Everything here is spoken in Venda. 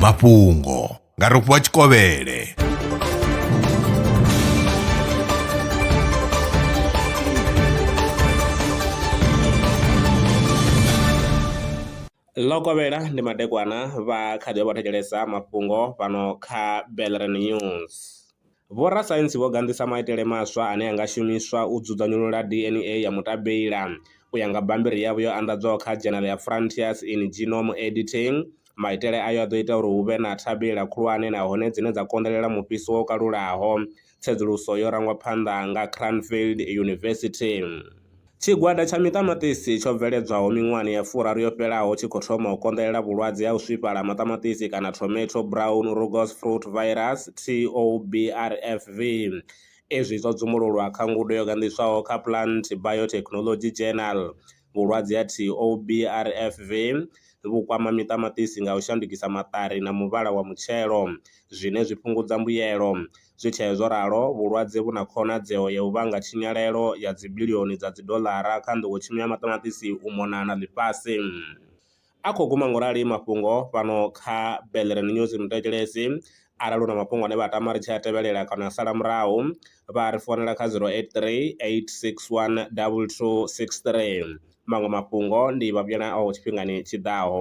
mafhungo nga rofhiwa tshikovhele ḽo kovhela ndi madekwana vha kha ḓi vha vho thetshelesa mafhungo fhano kha belren news Vhorasaintsi vho ganḓisa maitele maswa ane a nga shumiswa u dzudzanyulula DNA ya mutabeila. U ya nga bammbiri yavho yo anḓadzwaho kha dzhenele ya Frontiers in Genome Editing, maitele ayo a ḓo ita uri hu vhe na thabeila khulwane nahone dzine dza konḓelela mufhiso wo kalulaho. Tsedzuluso yo rangwa phanḓa nga Cranfield University. Tshigwada tsha miṱamaṱisi tsho bveledzwaho miṅwahani ya furaru yo fhelaho tshi khou thoma u konḓelela vhulwadze ha u swifhala ha maṱamaṱisi kana Tomato Brown Rugose Fruit Virus, TOBRFV. Izwi zwo dzumululwa kha ngudo yo ganḓiswaho kha Plant Biotechnology Journal. Vhulwadze ha TOBRFV vhu kwama miṱamaṱisi nga u shandukisa maṱari na muvhala wa mutshelo, zwine zwi fhungudza mbuyelo. Zwi tshee zwo ralo, vhulwadze vhu na khonadzeo ya u vhanga tshinyalelo ya dzibilioni dza dzidoḽara kha nḓowetshumo ya maṱamaṱisi u mona na ḽifhasi. A khou guma ngorali mafhungo fhano kha Bellerin News Mutetshelesi arali u na mafhungo ane vha tama ri tshi a tevhelela kana a sala murahu, vha a ri founela kha 083 861 2263. Maṅwe mafhungo ndi vha vhuyela ao tshifhingani tshi ḓaho.